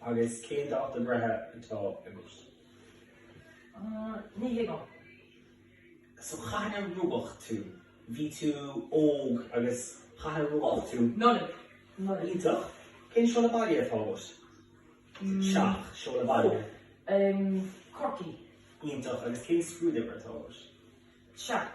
Agus cén dáta breithe atá agat? Ní thuigim. So cathain a rugadh tú? Bhí tú óg agus cathain a rugadh tú? Nollaig. Nollaig. Iontach. Cén seoladh baile atá agat? Teach, seoladh baile. Corcaigh. Iontach. Agus cén scrúduimhir atá agat? Seacht.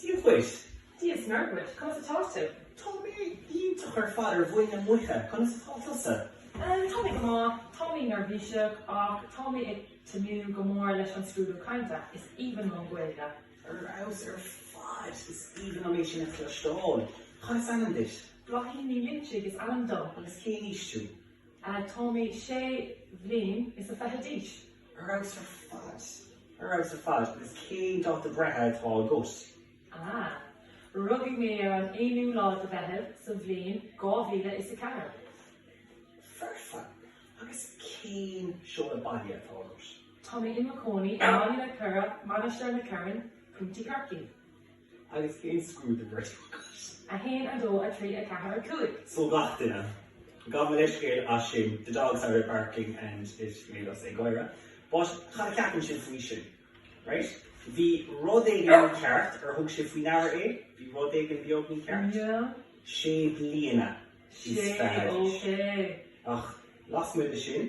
Dia dhuit! Dia is Muire dhuit! Conas atá tú? Tá mé iontach ar fad ar mhuin na muice, conas atá tusa? Tá mé go maith, tá mé neirbhíseach ach tá mé ag tnúth go mór leis an scrúdú cainte, is aoibhinn liom Gaeilge! Ar fheabhas ar fad, is aoibhinn liom é sin a chloisteáil! Cad is ainm duit? Bláithín Ní Loinsigh is ainm dom. Agus cén aois tú? Tá mé sé bliana is a fiche d'aois. Ar fheabhas ar fad. Ar fheabhas ar fad. Agus cén dáta breithe atá agat? Ah. Rugadh mé ar an aonú lá de Mheitheamh sa bhliain dhá mhíle is a ceathair. Foirfe. Agus cén seoladh baile atá agat? Tá mé i mo chónaí i mBaile na Cora, Mainistir na Corann, Contae Chorcaí. Agus cén scrúduimhir atá agat? 1 2 3 4 5. So gach duine. Gabh mo leithscéal as sin, the dog started barking and it made us ag gáire, but cad a cheapann sibh faoi sin? Right? Bhí rud éigin mícheart, ar thug sibh faoi deara é? Bhí rud éigin beag mícheart? Yeah. Sé bliana is fiche d'aois. Sé, ok. Ach lasmuigh de sin?